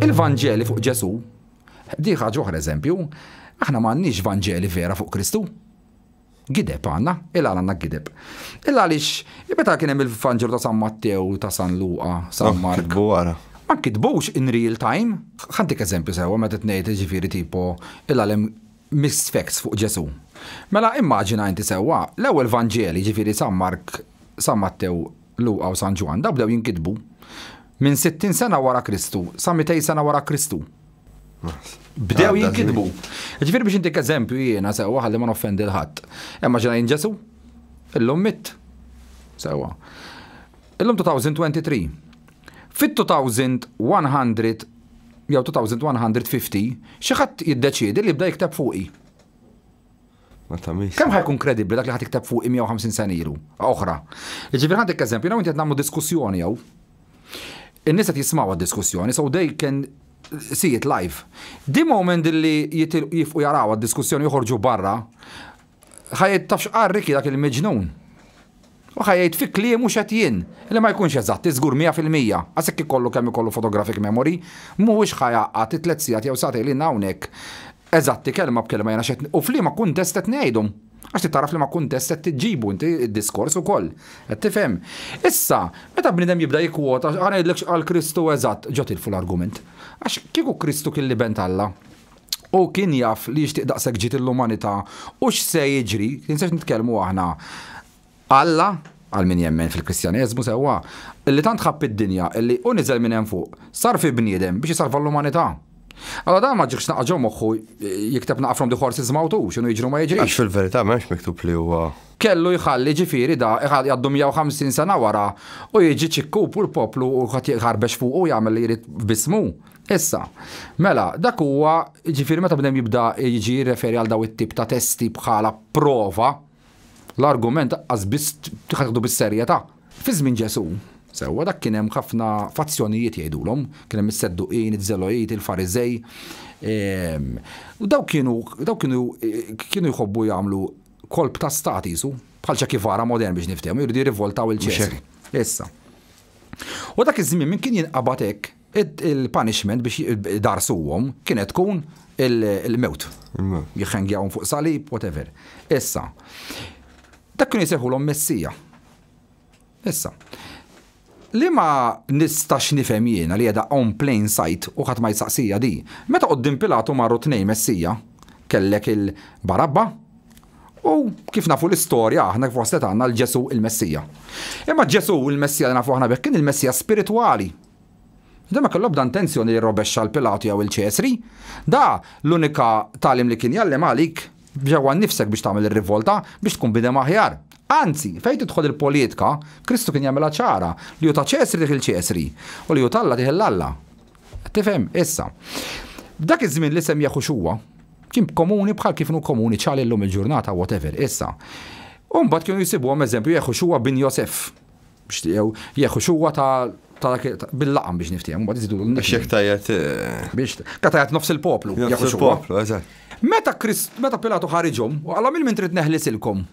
Il-Vanġeli fuq Ġesu, diħa ġoħra eżempju, aħna m'għandniex Vanġeli vera fuq Kristu. Gideb għanna, il għanna gideb. Il għalix, meta kien hemm il-Vanġelu ta' San Mattew, ta' San Luqa, San oh, Mark. Kitbu għara. Ma kitbux in real time. Ħantik eżempju sewa meta tnejt ġifieri tipo il-għalem mixed facts fuq Ġesù. Mela immaġina inti sewwa, l-ewwel Vanġeli, jiġifieri San Mark, San Mattew, Luqa u San Ġwann, dawn bdew jinkitbu minn sittin sena wara Kristu sa mitej sena wara Kristu. Bdew jinkitbu. Jiġifieri biex intik eżempju jiena sewwa ħalli ma noffendi 'l ħadd. Immaġina jien Ġesù, illum mitt. Sewwa. Illum 2023. Fit-2100 jew 2150, xi ħadd jiddeċiedi li jibda jikteb fuqi. Ma tamiex. Kemm ħajkun kredibbli dak li ħadd ikteb fuqi 150 sena ilu oħra. Jiġifieri ħaddek eżempju, jew inti qed nagħmlu diskussjoni jew. In-nies qed jismgħu għad-diskussjoni, so they can see it live. Di moment li jifqu jaraw għad-diskussjoni joħorġu barra, Ħajt tafx qarri dak il-miġnun. U ħajt fi kliemu xed jien, li ma jkunx eżatt, iżgur 100%, għasek ikollu kemm ikollu photographic memory, mhuwiex ħajgħaqqad ti tliet sigħat jew sagħtejn li hawnhekk eżatti kelma b'kelma jiena xed u f'liema kuntest qed ngħidhom. Għax titgħaraf f'liema kuntest qed iġġibu inti d-diskors ukoll. Qed tifhem? Issa, meta bniedem jibda jikkwota, ħa ngħidlek x'qal Kristu eżatt, ġo tilfu l-argument. Għax kieku Kristu kien l-Iben t'Alla, Hu kien jaf li jixtieq daqshekk ġid lill-umanità u x'se jiġri, kien se nitkellmu aħna. Alla, għal min jemmen fil-Kristjaneżmu sewwa, li tant ħabb id-dinja li hu niżel minn hemm fuq, sar fi bniedem biex isalva l-umanità. Alla dan ma ġiehx naqaġ ġo moħħu jikteb naqra from the horse's mouth hu, x'inhu jiġri u ma jiġrix. Għax fil-verità m'hemmx miktub li huwa. Kellu jħalli ġifieri da jgħaddu 150 sena wara u jiġi ċ-ċikkub u l-poplu u kulħadd jħarbex fuqu u jagħmel li jrid b'ismu. Issa, mela, dak huwa, ġifieri meta bnem jibda jiġi jirreferi għal daw it-tip ta' testi bħala prova, l-argument aqqas biss ħadd bis-serjetà. Fi żmien Ġesù, sewwa, dak kien hemm ħafna fazzjonijiet jgħidulhom, kien hemm is-Sedduqin, iż-Żelojiti, il-Fariżej, u dawk kienu dawk kienu kienu jħobbu jagħmlu kolp ta' stat qisu, bħal Che Guevara modern biex niftehmu, jridu jirrivoltaw lil Ċesri. Issa. U dak iż-żmien min kien jinqabad hekk, Il-punishment biex idarsuhom kienet tkun il-mewt. Jħengjawhom fuq salib, whatever. Issa, dak kienu jseħulhom messija. Issa, li ma nistax nifhem jiena li jeda on plain sight u ħadd ma jsaqsija di. Meta qoddim Pilatu marru tnej messija, kellek il-Barabba u kif nafu l-istorja aħna kif waslet għandna l-Ġesu il-Messija. Imma Ġesu il-Messija li nafu aħna bekk kien il-Messija spiritwali Demek l-ebda intenzjoni li jirrobexxa 'l Pilatu jew 'il Ċesri. Da l-unika tagħlim li kien jgħallim għalik ġewwa nnifsek biex tagħmel ir-rivolta, biex tkun bniedem aħjar. Anzi, fejn tidħol il-poliedka, Kristu kien jagħmilha ċara li hu ta' Ċesri tih 'il Ċesri, u li hu t'Alla tih 'l Alla. Qed tifhem? Issa. F'dak iż-żmien l-isem Jeħuxua kien komuni bħal kif inhu komuni ċali llum il-ġurnata whatever. Issa. U mbagħad kienu jsibuhom eżempju Jeħuxua bin Josef. Bixtiequ jieħu xuwa ta' bil-laqam biex niftiehom, mbagħad iżidu l Xek tajjat. Biex tajjat nofs il-poplu. Nofs il-poplu, eżatt. Meta Krist, meta Pilatu ħariġhom, u għalhom il-min trid neħlisilkom.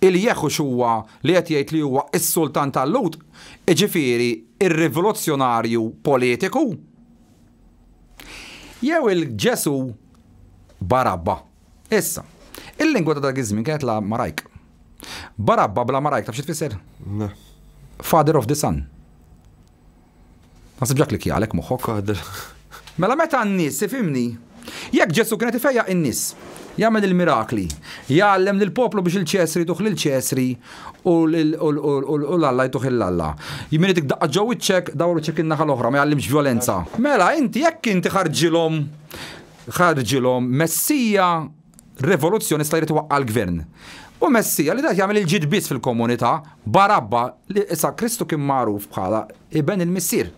Il-jeħu xuwa li qed jgħid li huwa s-sultan tal-Lhud, iġifieri ir-rivoluzzjonarju politiku? Jew il-Ġesu Barabba? Issa, il-lingwa ta' dak iż-żmien kienet l-Amarajk. Barabba bl-Amarajk taf xi tfisser? Le. Father of the sun. Nasib ġa klikkja għalhekk moħħok. Father. Mela meta n-nies, tifhimni, jekk Ġesù kien qed ifejjaq in-nies, jagħmel il-mirakli, jgħallem lill-poplu biex il-Ċesri jtuh lill-Ċesri u l-Alla jtuh lill-Alla. Min itik daqqa ġo wiċċek, dawru wiċċek in-naħa l-oħra, ma jgħallimx vjolenza. Mela inti jekk inti ħarġilhom Ħarġilhom Messija rivoluzzjonista jrid iwaqqa' l-gvern. U Messija li jrid jagħmel il-ġid biss fil-komunità, Barabba li issa Kristu kien magħruf bħala Iben il-Missier.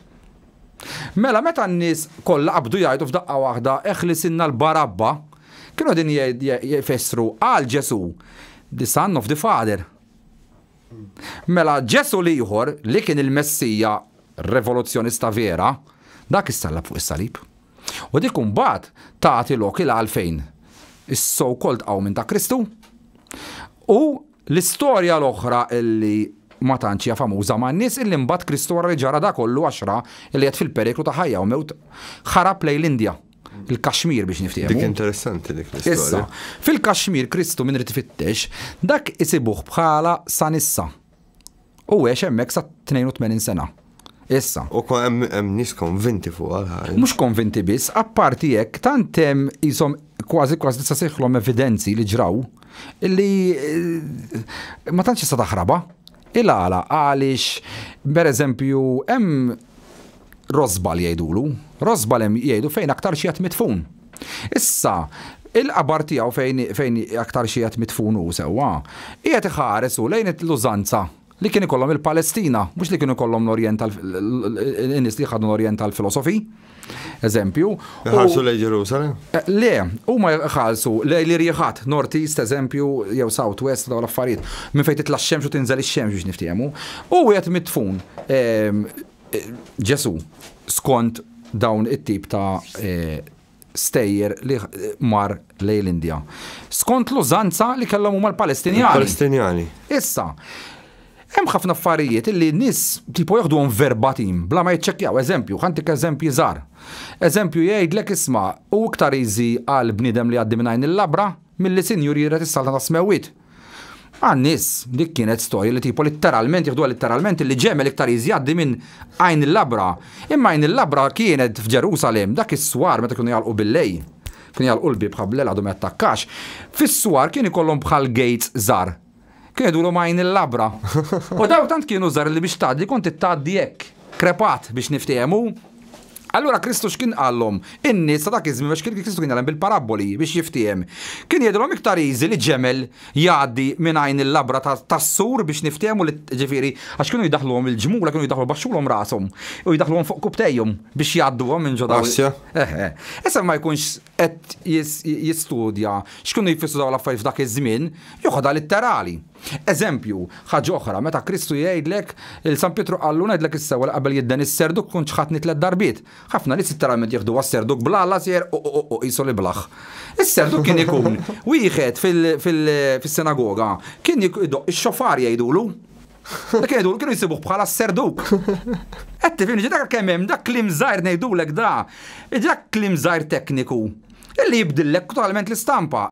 Mela meta n-nies kollha qabdu jgħidu f'daqqa waħda eħlisilna 'l Barabba, kienu qegħdin jfissru għal Ġesù, the son of the father. Mela Ġesù l-ieħor li kien il-Messija rivoluzzjonista vera, dak issallab fuq is-salib. U dik imbagħad tagħti lok il għalfejn is-so called qawmien ta' Kristu u l-istorja l-oħra illi ma tantx hija famuża man-nies illi mbagħad Kristu wara li ġara da kollu għax ra illi qiegħed fil-periklu ta' ħajja u mewt ħarab lejn l-Indja, il-Kashmir biex niftehmu. Dik interessanti dik l-istorja. Issa, fil-Kashmir Kristu min irid ifittex, dak isibuh bħala sa nissa. U għex hemmhekk sa 82 sena. Issa. U hemm nies konvinti fuq għal Mhux konvinti biss, apparti hekk tant hemm isom kważi kważi tista' seħħlhom evidenzi li ġraw li eh, ma tantx tista' taħraba. Il-għala għaliex pereżempju hemm Rosbal jgħidulu. Rosbal hemm jgħidu fejn aktar xi qed midfun. Issa, il-qabar tiegħu fejn fejn aktar xi qed midfun hu sewwa, qiegħed iħares hu lejn l-użanza li kien ikollhom il-Palestina, mhux li kienu jkollhom l-Orjent tal in-nies li ħadnu l-Orjent tal-filosofi. eżempju. Ħarsu lej Ġerusalem? Eh, le, huma ħarsu lej li rieħat, North East eżempju, jew South West dawn l-affarijiet, minn fejn titla' x-xemx u tinżel ix-xemx biex niftiehmu. U wieħed mitfun ehm, eh, Ġesu skont dawn it-tip ta' eh, stejjer li mar lej l-Indja. Skont l-użanza li kellhom huma l-Palestinjani. Palestinjani. Issa, Hemm ħafna affarijiet li n-nies tipo joħduhom verbatim bla ma jiċċekkjaw. Eżempju, ħa ntik eżempji żgħar. Eżempju jgħidlek isma' hu iktar easy għal bniedem li jgħaddi minn għajn il-labra milli sinjur jiret is-saltna tas-smewwiet. Għan-nies dik kienet storja li tipo litteralment jieħduha litteralment li ġemel iktar easy jgħaddi minn għajn il-labra. Imma għajn il-labra kienet f'Ġerusalemm dak is-swar meta kienu jagħlqu bil-lejl. Kienu jagħlqu l-bieb ħabblel għadu ma jattakkax. Fis-swar kien ikollhom bħal gates żgħar. Kienu jduru ma' għajn il-labra. U dawn tant kienu żgħar li biex tgħaddi kont ittgħaddi hekk, krepat biex niftiehmu. Allura Kristu x'kien qallhom? In-nies ta' dak iż-żmien għax kien Kristu kien jgħallem bil-parabboli biex jiftiehem. Kien jgħidilhom iktar easy li ġemel jgħaddi minn għajn il-labra tas-sur biex niftiehmu li ġifieri għax kienu jdaħħluhom il-ġmula kienu jdaħħlu baxxulhom rashom u jdaħħluhom fuq kubtejhom biex jgħadduhom minn ġo dawn. Għaxja. Eħe. Issa ma jkunx qed jistudja x'kienu jfissru dawn l-affarijiet f'dak iż-żmien, joħodha litterali. Eżempju, ħaġa oħra, meta Kristu jgħidlek, il San Pietru qallu, ngħidlek is-sewwa li qabel jidden is-serduk kont ċħadtni tliet darbiet. Ħafna nies litteralment jiħduha s-serduk bl-għala sejjer u u u qisu li blaħ. Is-serduk kien ikun wieħed fis-sinagoga kien idoqq ix-xofar jgħidulu. Dak jgħidu kienu jsibuh bħala s-serduk. Qed tifhimni ġi dak kemm hemm dak klim żgħir ngħidulek da. Dak klim żgħir tekniku illi jibdillek totalment l-istampa.